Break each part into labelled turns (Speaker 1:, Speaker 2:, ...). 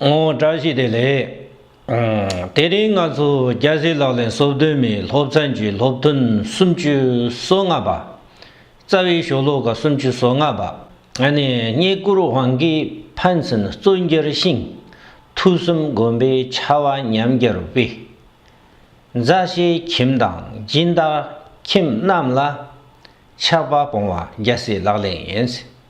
Speaker 1: ངོ་བཀྲ་ཤིས་བདེ་ལེགས། དེ་རིང་ང་ཚོ་རྒྱལ་སྲས་ལག་ལེན་གསོལ་སྟོན་མའི་སློབ་ཚན་གྱི་སློབ་ཐུན་སུམ་ཅུ་སོ་ལྔ་པ། རྩ་བའི་ཞོ་ལོ་ཀ་སུམ་ཅུ་སོ་ལྔ་པ། ནས་རྙེད་བཀུར་དབང་གིས་ཕན་ཚུན་གཙོས་འགྱུར་ཞིང། ཐུགས་གསུམ་བསྒོམ་པའི་ཆ་བ་ཉམས་འགྱུར་དཔེ། མཛའ་བཤེས་ཁྱིམ་དང་སྦྱིན་བདག་ཁྱིམ་རྣམས་ལ། ཆགས་པ་སྤོང་བ་རྒྱལ་སྲས་ལག་ལེན་ཡིན།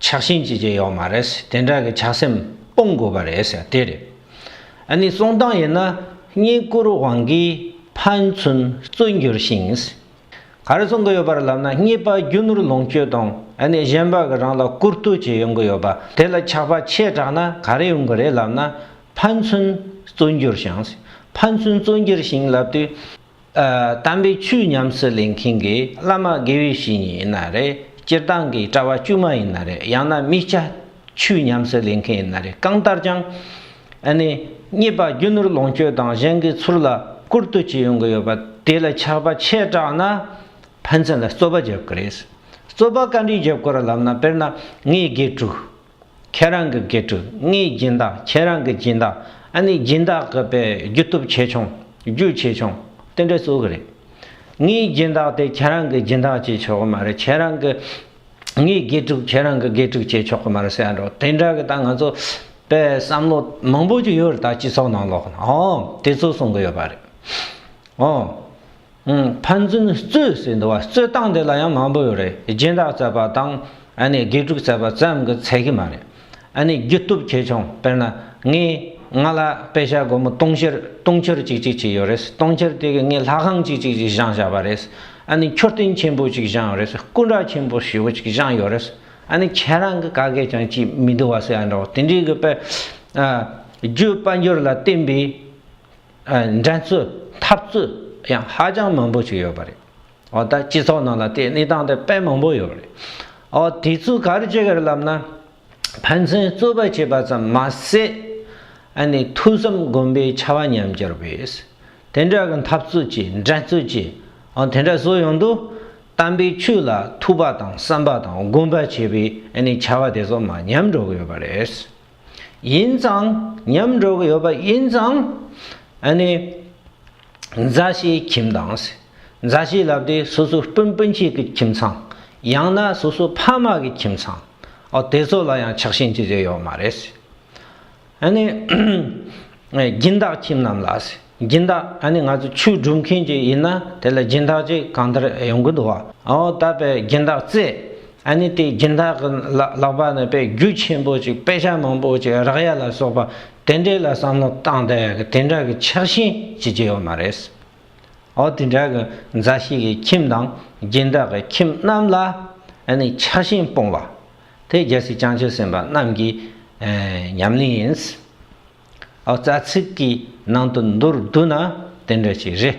Speaker 1: ཆགས་ཞེན་བྱེད་ཀྱི་ཡོད་མ་རེད། དེ་འདྲ་གི་ཆགས་སེམས་སྤོང་དགོས་པ་རེད་ཟེར་དེ་རེད། ཨ་ནི་གསུང་སྟངས་ཡིན་ན་བསྙེན་བཀུར་དབང་གིས་ཕན་ཚུན་བརྩོད་འགྱུར་ཞིང། ག་རེ་གསུང་གི་ཡོད་པ་རེད་ལབ་ན་རྙེད་པ་རྒྱུ་ནོར་ལོངས་སྤྱོད་དང་ཨ་ནི་གཞན་པ་གི་རང་ལ་བཀུར་བསྟོད་ཅིག་ཡོང་གི་ཡོད་པ་དེ་ལ་ཆགས་པ་ཆེ་དྲགས་ན་ག་རེ་ཡོང་གི་རེད་ལབ་ན་ཕན་ཚུན་བརྩོད་འགྱུར་ཞིང། ཕན་ཚུན་བརྩོད་འགྱུར་ཞིང་ལབ་དུས་དམ་པའི་ཆོས་ཉམས་སུ་ལེན་མཁན་གྱི་བླ་མ་དགེ་བའི་བཤེས་གཉེན་ཡིན་ན་རེད་སྤྱིར་བཏང་གི་གྲྭ་བ་དཀྱུས་མ་ཡིན་ན་རེད་ཡང་ན་དམིགས་བྱ་ཆོས་ཉམས་སུ་ལེན་མཁན་ཡིན་ན་རེད་གང་ལྟར་ཀྱང་ཨ་ནི་རྙེད་པ་རྒྱུ་ནོར་ལོངས་སྤྱོད་དང་གཞན་གྱི་ཚུར་ལ་བསྐུར་བསྟོད་བྱེད་ཡོང་གི་ཡོད་པ་དེ་ལ་ཆགས་པ་ཆེ་དྲགས་ན་ཕན་ཚུན་ལ་རྩོད་པ་བརྒྱབ་ཀི་རེད། རྩོད་པ་ག་འདྲའི་བརྒྱབ་དགོས་ར་ལབ་ན་དཔེར་ན་ངའི་དགེ་ཕྲུག་ཁྱེད་རང་གི་དགེ་ཕྲུག་ངའི་སྦྱིན་བདག་ཁྱེད་རང་གི་སྦྱིན་བདག་ཨ་ནི་སྦྱིན་བདག་གི་པའི་རྒྱུ་སྟོབས་ཆེ་ཆུང་རྒྱུ་ཆེ་ཆུང་དེ་འདྲས་བཟོ་གི་རེད། ངའི་སྦྱིན་བདག་དེ་ཁྱེད་རང་གི་སྦྱིན་བདག་བྱེད་ཆོག་གི་མ་རེད་ཁྱེད་རང་གི། ངའི་དགེ་ཕྲུག་ཁྱེད་རང་གི་དགེ་ཕྲུག་བྱེད་ཆོག་གི་མ་རེད་ཟེར་ཡ་འགྲོ་དེ་འདྲ་གི་ད་ང་ཚོ་པའི་བསམ་བློ་མང་པོ་ཞིག་ཡོད་རེད་ད་སྤྱི་ཚོགས་ནང་ལོགས་ན་ཨོ་དེ་ཚོ་གསུང་གི་ཡོད་པ་རེད་ཨོ། ཕན་ཚུན་རྩོད་ཟེར་འདུག་བ་རྩོད་སྟངས་དེ་ལ་ཡང་མང་པོ་ཡོད་རེད་སྦྱིན་བདག་བཙལ་བ་དང་ཨ་ནི་དགེ་ཕྲུག་བཙལ་བ་ཙམ་གྱི་ཚད་གི་མ་རེད་ཨ་ནི་རྒྱུ་སྟོབས་ཆེ་ཆུང་དཔེར་ན་ངས་ང་ལ་དཔེ་ཆ་སྒོར་མོ་སྟོང་ཕྱིར་སྟོང་ཕྱིར་གཅིག་གཅིག་གཅིག་ཡོད་རེད་སྟོང་ཕྱིར་དེ་གི་ངས་ལྷ་ཁང་གཅིག་གཅིག་གཅིག་བཞེངས་བཞག་པ་རེད་ཨ་ནི་མཆོད་རྟེན་ཆེན་པོ་གཅིག་བཞེངས་ཡོད་རེད་སྐུ་འདྲ་ཆེན་པོ་ཞེ་བོ་གཅིག་བཞེངས་ཡོད་རེད་ཨ་ནི་ཁྱེད་རང་གི་ག་གེ་ཀྱང་ཅིས་མི་འདུག་བ་ཟེར་ཡ་འདྲ་བོ་དེ་འདྲའི་གི་དཔེ་རྒྱུད་དཔལ་འབྱོར་ལ་བརྟེན་པའི་འགྲན་རྩོད་འཐབ་རྩོད་ཡང་ཧ་ཅང་མང་པོ་ཞིག་ཡོད་པ་རེད། འོ་ད་སྤྱི་ཚོགས་ནང་ལ་དེ་གནས་སྟངས་དེ་དཔེ་མང་པོ་ཡོད་པ་རེད། འོ་དེ་ཚོ་ག་རེ་བྱེད་དགོས་རེད་ལབ་ན། ཕན་ཚུན་རྩོད་པ་བྱེད་པ་ཙམ་མ་ཟད། ཨ་ནི་ཐུགས་བསམ་སྒོམ་པའི་ཆ་བ་ཉམས་གྱུར་བས། དེ་འདྲ་གི་འཐབ་རྩོད་ཀྱི་འགྲན་རྩོད་ཀྱི་འོ་དེ་འདྲ་བཟོ་ཡོང་དུས། དམ་པའི་ཆོས་ལ་ཐུགས་པ་དང་བསམ་པ་དང་སྒོམ་པ་བྱེད་པའི་ཨ་ནི་ཆ་བ་དེ་ཚོ་མ་ཉམས་འགྲོ་གི་ཡོད་པ་རེད། ཡིན་ཙང་ཉམས་འགྲོ་གི་ཡོད་པ་ཡིན་ཙང། ཨ་ནི། མཛའ་བཤེས་ཁྱིམ་དང། མཛའ་བཤེས་ལབ་སྟེ་སོ་སོའི་སྤུན་སྤུན་མཆེད་ཀྱི་ཁྱིམ་ཚང། ཡང་ན་སོ་སོའི་ཕ་མ་གི་ཁྱིམ་ཚང། ཨོ་དེ་ཚོ་ལ་ཡང་ཆགས་ཞེན་ཅི་བྱས་ཡོད་མ་རེད། ཨ་ནི། སྦྱིན་བདག་ཁྱིམ་རྣམས་ལགས། སྦྱིན་བདག་ཨ་ནི་ང་ཚོ་ཆོས་སྒྲུབ་མཁན་ཅིག་ཡིན་ན་དེ་ལ་སྦྱིན་བདག་ཅིག་གང་ལྟར་ཡོང་གི་འདུག་བ། ཨོ་ད་པས་སྦྱིན་བདག་བཙས། ཨ་ནི་དེའི་སྦྱིན་བདག་གི་ལག་པ་ནས་པའི་རྒྱུ་ཆེན་པོ་ཅིག་པད་ཤ་མང་པོ་ཅིག་རག་ཡ་ལ་སོགས་པ་དེ་འདྲས་ལ་བསམ་བློ་བཏང་སྟེ་དེ་འདྲ་གི་ཆགས་ཞེན་བྱེད་ཀྱི་ཡོད་མ་རེད། ཨོ་དེ་འདྲ་གི་མཛའ་བཤེས་ཀྱི་ཁྱིམ་དང་སྦྱིན་བདག་གི་ཁྱིམ་རྣམས་ལ་ཨ་ནི་ཆགས་ཞེན་སྤོང་བ། དེ་རྒྱལ་སྲིད་བསྐྱངས་ཆོས་སེམས་དཔའ་རྣམས་ཀྱི་ཉམས་ལེན་ཡིན། ཨོ་རྩ་ཚིག་གི་ནང་དུ་མདོར་བསྡུ་ན་དེ་འདྲ་ཞིག་རེད།